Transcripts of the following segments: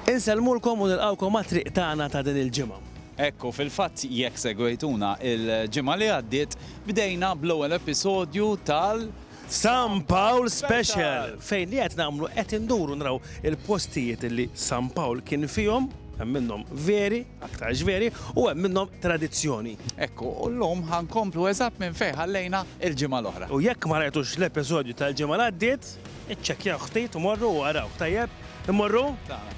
Insellmulkom u nilqgħukom għat-triq tagħna ta' din il-ġimgħa. Hekk hu, fil-fatt jekk segwejtuna l-ġimgħa li għaddiet, bdejna bl-ewwel episodju tal. San Pawl Special! Fejn li qed nagħmlu qed induru naraw il-postijiet li San Pawl kien fihom, hemm minnhom veri, aktarx veri, u hemm minnhom tradizzjoni. Hekk hu, u llum ħa nkomplu eżatt minn fejn ħallejna l-ġimgħa l-oħra. U jekk ma rajtux l-episodju tal-ġimgħa li għaddiet, iċċekkjawh ftit, morru u arawh, tajjeb? Immorru?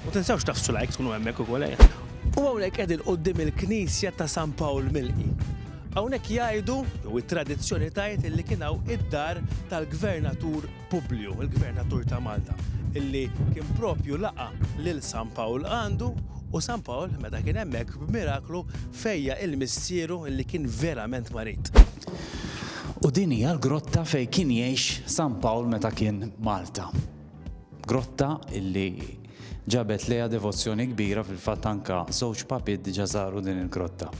U tinsewx tafsu like tkunu hemmhekk ukoll ejja. U hawnhekk qegħdin quddiem il-knisja ta' San Pawl Milqi. Hawnhekk jgħidu, jew it-tradizzjoni tgħid illi kien hawn id-dar tal-Gvernatur Publiju, il-Gvernatur ta' Malta, illi kien propju laqa' lil San Pawl għandu u San Pawl meta kien hemmhekk b'miraklu fejjaq il-missieru illi kien verament marid. U din hija l-grotta fejn kien jgħix San Pawl meta kien Malta. Grotta illi ġabet lejha devozzjoni kbira fil-fatt anke żewġ papiet diġà żaru din il-grotta.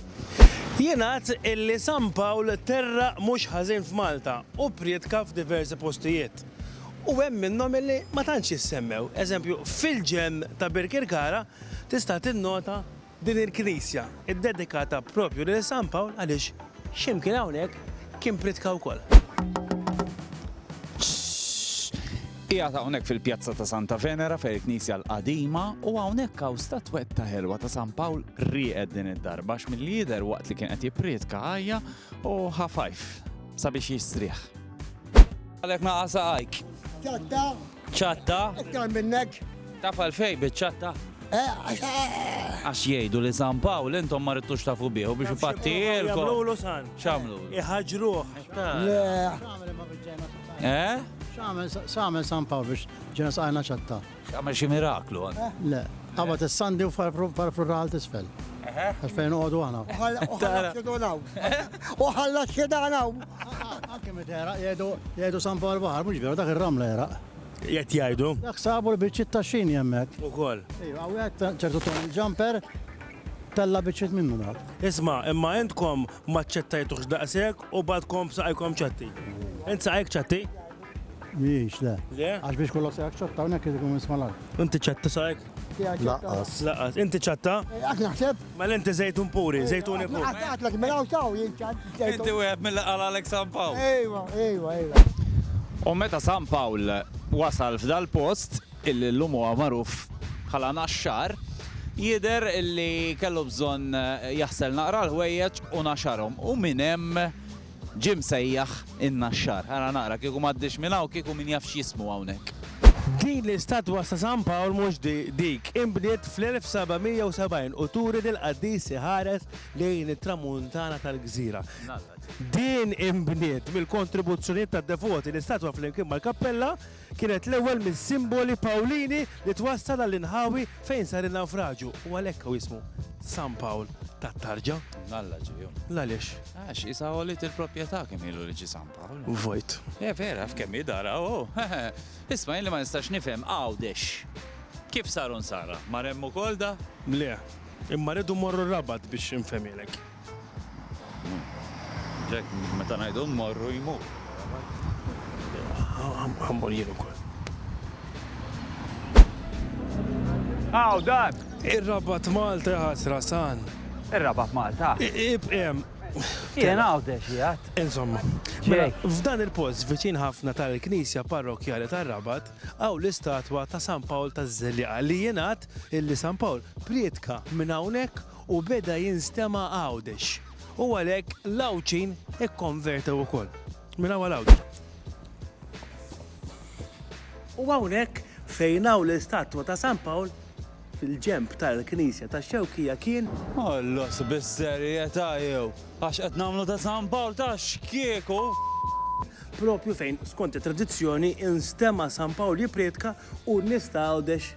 Jingħad illi San Pawl terraq mhux ħażin f'Malta u prietka f'diversi postijiet. U hemm minnhom illi ma tantx jissemmew. Eżempju, fil-ġenn ta' Birkirkara tista' tinnota Din il-knisja ddedikata propju lil San Pawl għaliex x'imkien hawnhekk kien pritka wkoll. Qiegħed hawnhekk fil-pjazza ta' Santa Venera fejn il-knisja l-qadima u hawnhekk hawn statwetta ħelwa ta' San Pawl rieqed din id-darba għax milli jidher waqt li kien qed jippriedka għajja u ħa fajf sabiex jistrieħ. Għalhekk naqas għajk. Ċatta. Iktar minnek. Taf għalfej biċ-ċatta? Eh, għax- eh, Għax jgħidu li San Pawl intom ma ridtux tafu bieħu biex ipattilkom. Jamlu san. X'għamlu? Iħaġruh. le, Eh? X'għamel x'għamel San Pawl biex ġena saqajna ċatta? Għamel xi miraklu. għan. Le, qabad is-sandi u farfurral tisfel. Għax fejn uqodu għana. Uħalla xidanaw. Uħalla xidanaw. Anke meta era jgħidu San Pawl Baħar, mhux veru dak ir-ramla era. Jgħid jgħidu. Dak sabu l-biċċiet ta' xini hemmhekk. Ukoll. Ejja, wieħed ċertu ton il-ġamper tella biċċiet minnu dak. Isma', imma intkom ma ċċettajtux daqshekk u badkom b'saqajkom ċatti. Int saqajk ċatti? Mhijiex, le. Le? Għax biex kollox se jaċċetta hawnhekk irid ikun isma' l-art. Inti ċetta sajk? Laqqas. Laqqas. Inti ċetta? Għak naħseb? Mela inti żejtun puri, żejtuni puri. Għatlek mela u taw Inti wieħed mill qal għalek San Pawl. Ejwa, ejwa, ejwa. U meta San Pawl wasal f'dal post, illi llum huwa magħruf bħala Naxxar, jidher illi kellu bżonn jaħsel naqra l-ħwejjeġ u naxarhom. U minn hemm Ġie msejjaħ in-Naxxar. Ara naqra, kieku m'għaddiex minn hawn, kieku min jaf x'jismu hawnhekk. Din l-istatwa ta' San Pawl mhux dik, inbniet fl-1770 u turi lill-qaddis iħares lejn it-tramuntana tal-gżira. Din inbniet mill-kontribuzzjonijiet tad-devoti, l-istatwa flimkien mal-kappella, Kienet l-ewwel minn simboli Pawlini li twassal għall-inħawi fejn sar in-nawfraġju u għalhekk hu ismu San Pawl tat-Tarġa. Mnalla ġie hu. L-għaliex? Għax qisha għoliet il-propjetà kemm ilu li ġie San Pawl. Vojt. Eh vera, af kemm hi dar hawn hu. Isma' jien li ma nistax nifhem Għawdex kif sar u nsara? Mar hemm ukoll da? Le, imma rridu mmorru r-Rabat biex infhemhielek. F'dan il-post, viċin ħafna tal-Knisja Parrokkjali tar-Rabat, hawn l-istatwa ta' San Pawl taż-Żelliqa li jingħad li San Pawl prietka minn hawnhekk u beda jinstema' Għawdex u għalhekk l-Għawdxin ikkonvertew ukoll. Minn hawn għal Għawdex. U hawnhekk fejn hawn l-istatwa ta' San Pawl, fil-ġenb tal-Knisja tax-Xewkija kien. Għollos bis-serjetà jew għax qed nagħmlu ta' San Pawl ta' x'kieku. Proprju fejn, skont it-tradizzjoni, instema' San Pawl jipprietka u n-nies ta' Għawdex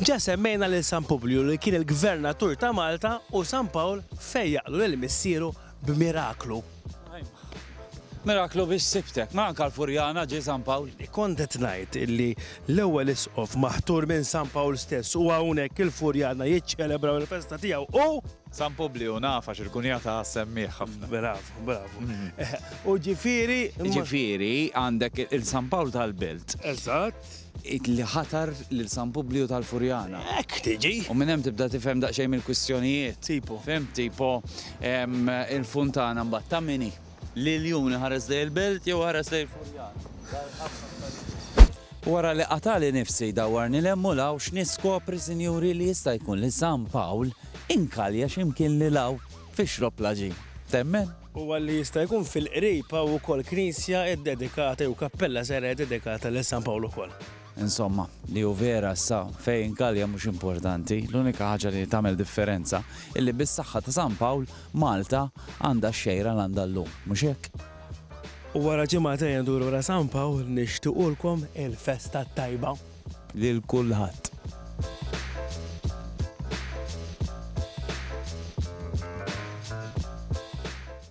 Ġa semmejna lil San Publju li kien il-gvernatur ta' Malta u San Pawl fejjaqlu lil missieru b'miraklu. Miraklu biex sibtek, ma anka l-Furjana ġie San Pawl. Kont qed ngħid illi l-ewwel Isqof maħtur minn San Pawl stess u hawnhekk il-Furjana jiċċelebraw il-festa tiegħu u. San Publju, naf għax il-kunjata ssemmieh ħafna. Bravu, bravu. U ġifieri. Ġifieri għandek il-San Pawl tal-Belt. Eżatt. Id li ħatar lil San Publiju tal-Furjana. Hekk tiġi. U minn hemm tibda tifhem daqsxejn mill-kwistjonijiet. Tipo. Fhimt? Tipo, il-funtana mbagħad ta' min hi? L-iljun iħares lejn il-belt jew iħares lejn il-Furjana? Dar il-ħabta f'Pariġi. Wara li qatagħli nifsi dawwarni 'l hemm u 'l hawn x'niskopri, sinjuri, li jista' jkun li San Pawl inkalja xi mkien lil hawn fix-xrop laġin. Temmen? u għalli jista' jkun fil-qrib hawn ukoll knisja iddedikata jew kappella żgħira iddedikata lil San Pawl ukoll. Insomma, li hu vera issa fejn Gallia mhux importanti, l-unika ħaġa li tagħmel differenza illi bis-saħħa ta' San Pawl, Malta għandha x-xejra li għandha llum, mhux hekk? U wara ġimagħtejn nduru wara San Pawl nixtiequlkom il-festa t-tajba. lil kulħadd.